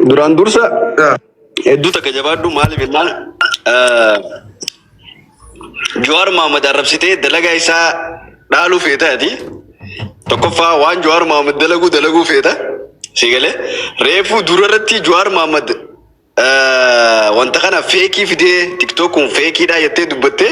Duraan dursa hedduu takka jabaadhu maaliif jennaan Jawaar Mohaammed arrabsitee dalagaa isaa dhaaluu feeta ati. Tokkoffaa waan Jawaar Mohaammed dalaguu dalaguu feeta. Si galee reefuu dura irratti Jawaar Mohaammed wanta kana feekii fidee tiktokuun feekiidhaa jettee dubbattee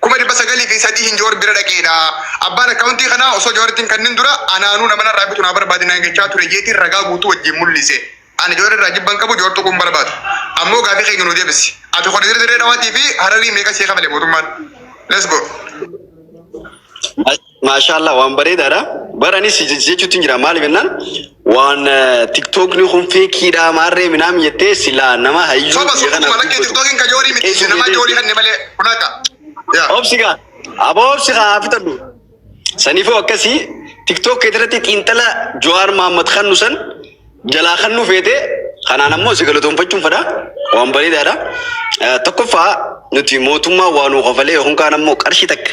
kuma dhibba sagalii fi sadii hin Joor bira dhaqeedha. Abbaan akkaawuntii kanaa osoo Jooritti hin kannin dura anaanuu nama narraa bitu naa barbaadi naan jechaa ture jeetiin ragaa guutuu wajjin mul'ise. Ani Joor irraa jibban qabu Joor tuquun barbaadu. Ammoo gaafii keenya nuu deebisi. Ati kuni dirree dhawaatii fi hararii meeqa sii kafale mootummaan? Let's go. Maashaallah waan bareedaadha. Bara anis jechuutti hin jira maaliif jennaan waan tiktookni kun feekiidha maarree minaam jettee silaa nama hayyuu Soba biyya soba kanaaf kuma lakkee dubbatu. tiktokiin ka joorii miti Eessi nama jedhee joorii hanne malee kun akka. Yaa. Obsi kaa aboo obsi kaa fitadhu. Saniifuu akkasii tiktook kee irratti xiinxala Jawaar Mahammad kannu san jalaa kannu feete kanaan ammoo si galatoomfachuun fedha waan bareedaadha. Eh, Tokkoffaa nuti mootummaa waa nuu kafalee yookaan kaan ammoo qarshii takka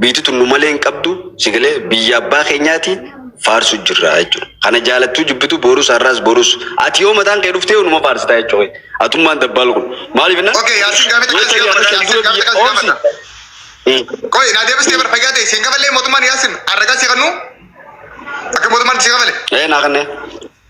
biyti tun nu malee hin qabdu si galee biyya abbaa keenyaati faarsu jirra jechuudha. Kana jaalattuu jibbitu boorus har'aas borus ati yoo mataan kee dhuftee numa faarsitaa jechuudha. Atummaan dabbaal kun maaliif innaan Okay, Yaasiin gaafficha yoo kan ta'e siif har'a gaafadha, shan Yaasiin dura biyya gaafficha kan siif oomsi. gaafadha. Qoy, naa deebistee bara fayyaa ta'e siin gafalee mootummaan Yaasiin arragaa si kannu akka mootummaan si gafale. Ee naa kanneen.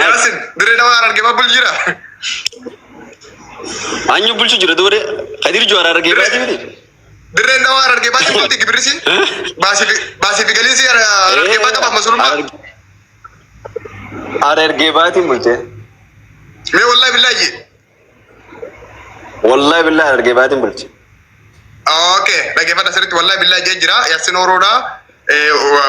Yaasin dirree dawaa arge babbul jira. Anyu bulchu jira dure Kadir Juara arge Dire- baati miti. Dirreen dawaa arge baati bulti gibirisi. Baasifi baasifi galiisi arge baata baaf masulummaa. Arge baati bulche. Mee wallahi billahi. Wallahi billahi Harargee baatiin bulche. Okay, dhaggeeffadha sirriitti wallahi billahi jee jira. Yassin Oroodha.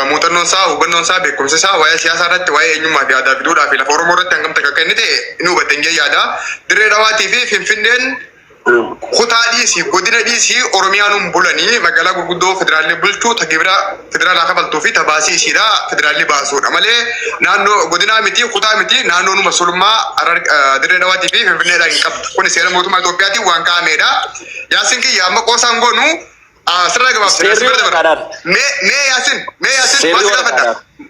Muuxannoon isaa, hubannoon isaa, beekumsi isaa waa'ee siyaasaa irratti, waa'ee eenyummaa fi aadaa fi duudhaa fi lafa Oromoo irratti hangam takka kennite ni hubatten jee yaada. Dirree Dhawaatii fi Finfinneen kutaa dhiisii, godina dhiisii Oromiyaa nuun bulanii magaalaa gurguddoo federaalli bulchuu ta gibira federaalaa kafaltuu fi tabaasii ishiidha federaalli baasuudha malee naannoo godinaa miti kutaa miti naannoo numa sulmaa Harar- eh, dirree dhawaatii fi finfinneedhaan hin qabdu kun seera mootummaa Itoophiyaatiin waan kaa'ameedha yaasin kiyya amma qoosaan goonu ah, sirraa gabaabsina Seerri sirra dabarra waraqaadhaan. mee mee yaasin mee yaasin Seerri waan si gaafadha waraqaadhaan.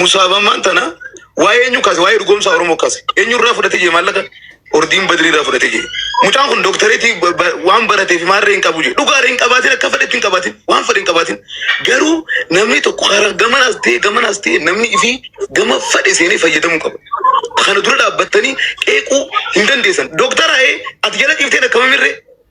musaabamaan tana waa'ee eenyu kaase waa'ee dhugoomsa Oromoo kaase eenyu irraa fudhatee jee maallaqa ordiin badrii irraa fudhatee jee mucaan kun dooktareetii ba- ba- waan baratee fi maarree hin qabu jee dhugaarree hin qabaatin akka fedhetti hin qabaatin waan fedhe hin qabaatin garuu namni tokko karaa gamanaas ta'e gamanaas ta'e namni ifii gama fedhe seenee fayyadamuu qaba. Kana dura dhaabbattanii qeequu hin dandeessan. Dooktaraa ee ati jala dhiiftee dhakkamamirree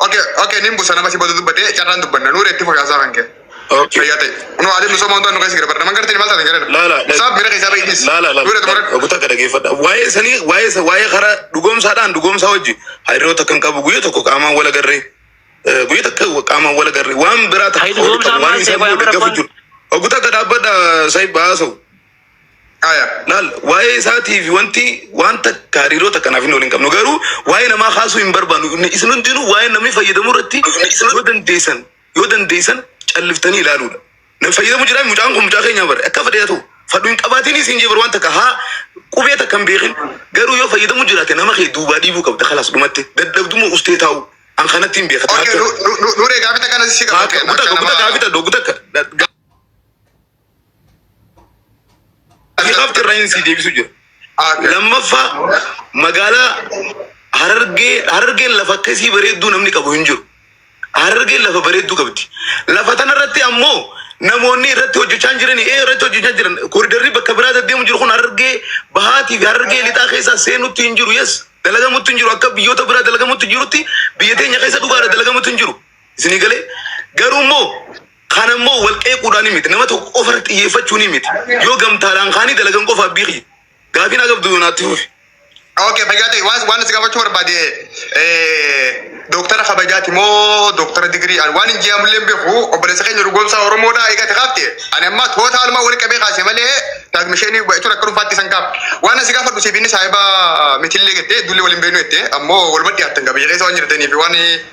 Okay, okay, nin busa namatti badu dubbadee carraan dubbanna nuure itti fokaasaa kan kee. Okay. Fayyaa ta'e. Nu haa deemnu somaan ta'an nu keessa gara barna. Naman gartee maal taatan gara Laa, laa, laa. Saaf miira keessaa ba'iinis. Laa, laa, laa. Nuure tumara. Ogutaa akka dhageeffadha. Waa'ee sanii, waa'ee isa, waa'ee karaa dhugoomsaadhaan dhugoomsaa wajji hariiroota kan qabu guyyaa tokko qaamaan wal agarree. eh, Guyyaa tokko qaamaan wal agarree. Waan biraa Hayi, tokko dhugoomsaa waan maal isaa ta'e, waan booda bira gaafa waan- jiru. Ogutaa akka dhaabbadha saayib baasa'u. Aya, laal waa'ee isaatiif wanti wanta hariiroo takka naaf hin oolin qabnu garuu waa'ee namaa kaasuu hin barbaannu. Inni- Isin hundinuu waa'ee namni fayyadamu irratti yoo dandeessan yoo dandeessan calliftanii ilaaluudha. Namni fayyadamu jira mucaan kun mucaa keenya bara akka fedhe haa ta'u fadhu hin qabaatiin isin jee bara waan takka haa qubee takka hin beekin garuu yoo fayyadamu jiraate nama kee duubaa dhiibuu qabda kalaas dhumatti dadhabdummoo ustee taa'u an kanatti hin beekata. Okay, nu- nu- nu- Nuree gaafita kana si Haa, gaafadhe. Guta Akka guta nama- gaafita doo guta akka. Ati qabxi irraa hin sii deebisu jira. Lammaffaa magaalaa Harargee Harargeen lafa akkasii bareedduu namni qabu hin jiru. Harargeen lafa bareedduu qabdi. Lafa tana irratti ammoo namoonni irratti hojjechaa jiran ee irratti hojjechaa jiran koridarri bakka biraa deddeemu jiru kun Harargee bahaatii fi Harargee lixaa keessaa seenutti hin jiru. Yes dalagamutti hin jiru akka biyyoota biraa dalagamutti jirutti biyya teenya keessa dhugaadha dalagamutti hin jiru. Isinii galee garuu immoo Kana immoo wal qeequudhaan miti, nama tokko qofa irratti xiyyeeffachuun miti. Yoo gamtaadhaan kaanii dalagan qofa abbii kiyya. Gaafii naa qabdu naatti fufi. Okay, fayyaa ta'e waan waan si gaafachuu barbaade eh, dooktara kabajaati moo dooktara digirii an waan hin jee'amullee hin beeku obboleessa keenya dhugoomsaa Oromoodha eegate kaafte ani amma toota almaa walitti qabee kaase malee daagmisheenii jechuun akka dhuunfaatti san kaaf waan asi gaafadhu siif inni saahiba mitillee jette dulli waliin beenu jette ammoo waluma dhiyaattan qabiyya keessa waan jirtaniif waan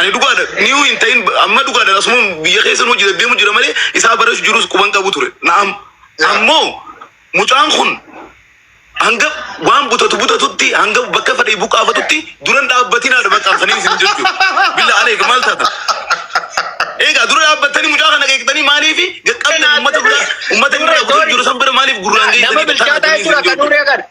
Ani dhugaadha niu hin ta'in amma dhugaadha asumam biyya keessan hojii deddeemu jira malee isaa barreessu jirus quban qabu ture. Na'am ammoo mucaan kun hanga waan butatu butatutti hanga bakka fadhii buqaafatutti duran dhaabbatinaadha bakka kaniin isin jechuu. Billa aleek maal taatan? Eegaa dura dhaabbattanii mucaa kana qeeqxanii maaliif gaqqabdan uummata bira uummata inni bira butatu jiru san bira maaliif gurraan geessanii nama bilchaataa jechuudha kan duree kana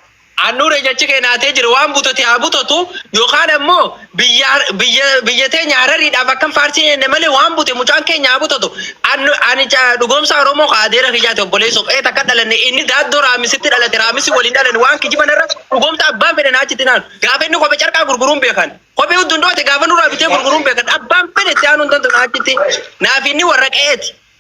Annuure jechi kee naatee jira waan butote haa butotu yookaan ammoo biyya har- biyya biyya teenya harariidhaaf akkan faarsii jenne malee waan bute mucaan keenya haa butotu Annu- ani ca- dhugoomsaa oromoo ka adeera kiyyaati obboleessoo qe'ee takka dhalanne inni daaddoo raamisitti dhalate raamisi waliin dhalanne waan kijiban irra dhugoomsa abbaan fedhe naa achitti naanu gaafa inni kophee carqaa gurguruun beekan kophee huddundoote gaafa nurraa bitee gurguruun beekan abbaan fedhe itti aanuun tantu naa achitti naaf inni warra qe'eeti